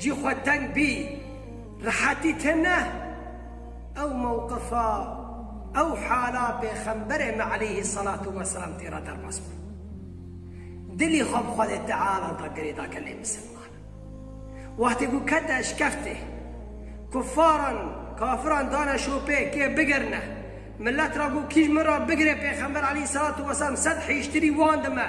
Cî xwe teng bî, rihetî te neh. Ew mewqifa, ew hala pêxemberê me eleyhî selatu weselam tê re derbas bû. Dilî xwe bi Xwedê Teala da girêda gelê misilman. Wextê ku kete eşkeftê, kuffaran, kafiran dane şopê kê bigirine, milet ra got kî ji min re bigire pêxember eleyhî selatu weselam sed hêjtirî wan dime.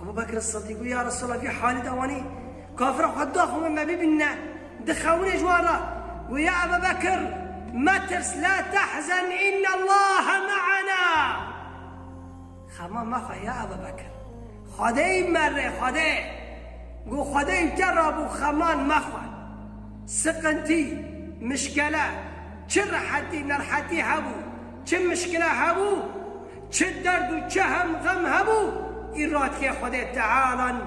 Ebû Bekr Sidîk got, Ya Resûlallah, vî halî de wanî kafiran xwe daxwin me bibînine, dixewinê ji wan re, got, Ya Ebû Bekr, metirs, la tehzen, innellahe me'ena. Xema mexe ya Ebû Bekr, Xwedê yî me rê, Xwedê! Got, Xwedê yî te re bû, xeman mexwe. Siqintî, mişkele, çi rehetî, nerhetî hebû, çi mişkile hebû, Çi derd û çi hem xem hebû îradkê Xwedê Teala in,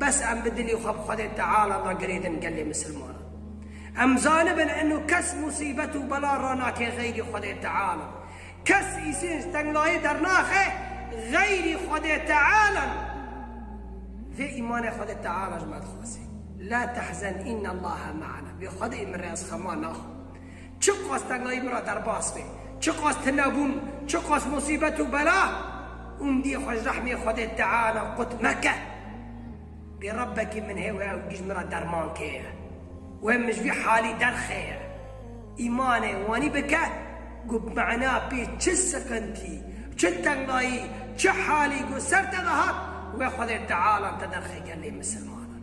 bes em bi dilî xwe bi Xwedê Teala ve girêdin gelê misilmanan. Em zanibin inu kes musîbet û bela ranake xeyrî Xwedê Teala. Kes îsênc tengayê dernaxe xeyrî Xwedê Teala in. Vê îmanê Xwedê Teala ji me dixwase. La tehzen innallaha me'ana. Vê Xwedê min re ez xema naxwim. Çiqas tengayî min re derbas be, çiqas tunebûn, çiqas musîbet û bela, ûndiyê xwe ji rehmê Xwedê diane qut meke. Bê Rebbekî min hê wê ew tî ji min re derman keye. Wê min ji vî halî derxeye. Îmanê wanî bike ku bi mena pê çi siqintî, çi tengayî, çi halî ku ser te de hat, wê Xwedê teala te derxe gelê misilmanan.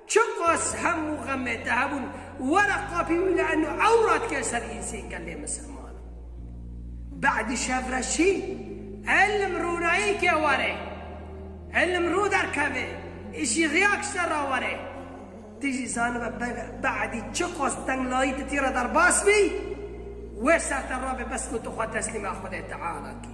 Çiqas hemû xemê te hebûn were qapî wî la eno ew radike ser însê gelê misilmanan. Be'dî şev re şî îlim rûnayî ke were. Îlim rû derkeve, îşî riyak ji te re were. Ti jî zanibe be'dî çiqas tenglayî ti tî re derbas bî, wê ser te rabe bes ku tu xwe teslîma Xwedê Teala kî.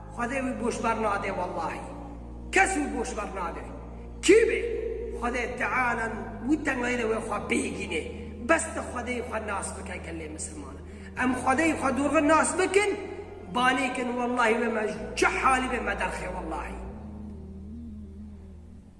Xwedê wî boş ber nade wellahî kes wî boş ber nade kî be Xwedê teala wî tengayî de wê xwe bihîgînê bes tu Xwedeyî xwe nas bike gelê misilman em Xwedeyî xwe dorxin nas bikin banê kin wellahî wê me ji çi halî be me derxê wellahî.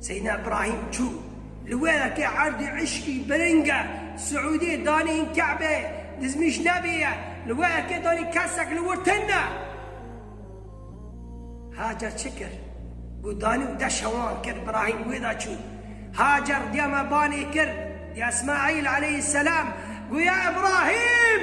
Seyna Ibrahîm çû li we ke erdê îşkî biring e, Siûdê danê yên Ke'bê dizmîş nebê ye, li we ke danê kesek li wir tin e. Hacer çi kir? Got danê û de şewan kir Ibrahîm wê de çû. Hacer diya me banê kir, diya Îsmaîl aleyhî selam, got ya Îbrahîm!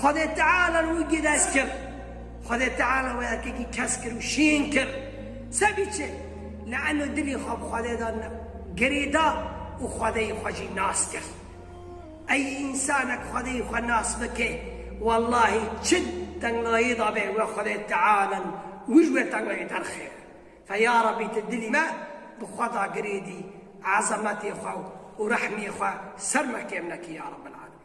Xwedê Teala li wî gidest kir. Xwedê Teala wê erkekî kesk kir û şîn kir. Se biçe? Leeno dilê xwe bi Xwedê de girê da û Xwedeyî xwe jî nas kir. Ey însanek Xwedeyî xwe nas bike, wellahî çi tenglayê de be we Xwedê Teala in û ji wê tenglayê derxê. Fe ya Rebî tu dilê me bi xwe de girê dî, ezemetê xwe û rehmê xwe ser me kêm nekî ya Rebel'alemîn.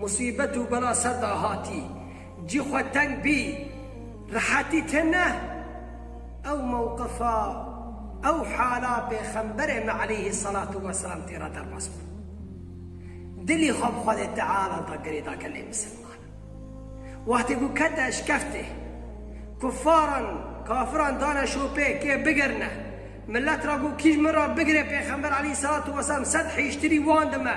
Musîbet û bela ser da hatî, cî xwe teng bî, rehetî tê neh. Ew mewqifa, ew hala Pêxemberê me eleyhî selatû weselam tê re derbas bû. Dilî xwe bi Xwedê Teala da girêda gelê misilman. Wextê ku kete eşkeftê, kuffaran, kafiran dane şopê kê bigirine, milet ra ku kî ji min ra bigire Pêxember eleyhî selatû weselam sed hîştirî wan dime.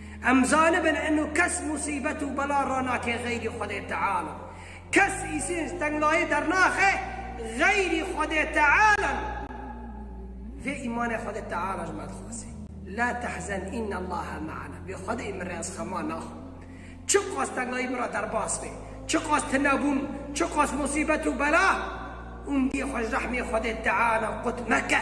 Em zanibin eno kes musîbet û bela ranake xeyrî Xwedê Teala. Kes îsên ji tengayê dernaxe xeyrî Xwedê Teala ne. Vê îmane Xwedê Teala ji me dixwase. La tehzen innallaha me'ana. Vê Xwedê min re ez xema naxwim. Çiqas tengayî min re derbas be, çiqas tunebûn, çiqas musîbet û bela, ûndiyê xwe ji rehmê Xwedê Teala qut meke.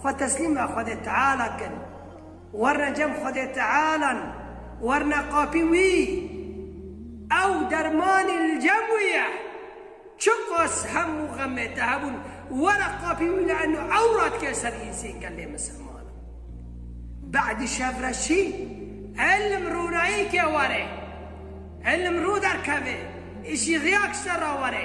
Xwe teslîma Xwedê Teala kin. Werne cem Xwedê Tealan, werne qapî Wî. Ew dermanî li cem Wî ye. Çiqas hemû xemê te hebûn, were qapî Wî le'nno ew radike ser însên gelê misilmanan. Be'dî şev re şî, îlim rûnayî ke were. Îlim rû derkeve, îşî riya kişte ra were.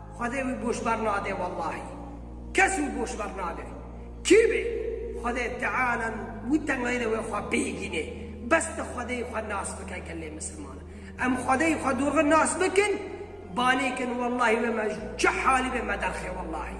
Xwedê wî boş ber nade wellahî kes wî boş ber nade kî be Xwedê teala wî tengayî de wê xwe bihîgînê bes tu Xwedeyî xwe nas bike gelê misilman em Xwedeyî xwe durxin nas bikin banê kin wellahî wê me ji çi halî be me derxê wellahî.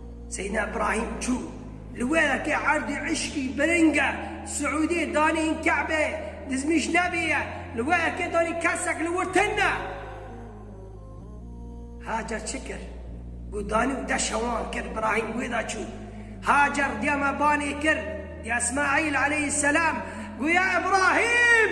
Seyna Ibrahîm çû li we ke erdê îşkî biring e, Siûdê danê yên Ke'bê dizmîş nebê ye, li we ke danê kesek li wir tin e. Hacer çi kir? Got danî û de şewan kir Ibrahîm wê de çû. Hacer diya me banê kir, diya Îsmaîl aleyhî selam, got ya Îbrahîm!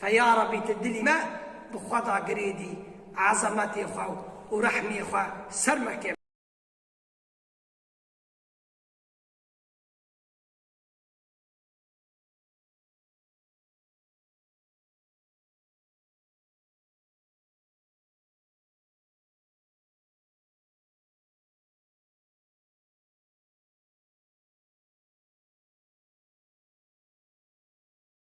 Fe ya Rabbî tu dilî me bi xwe da girêdî, ezametê xwe û rehmê xwe ser me ke.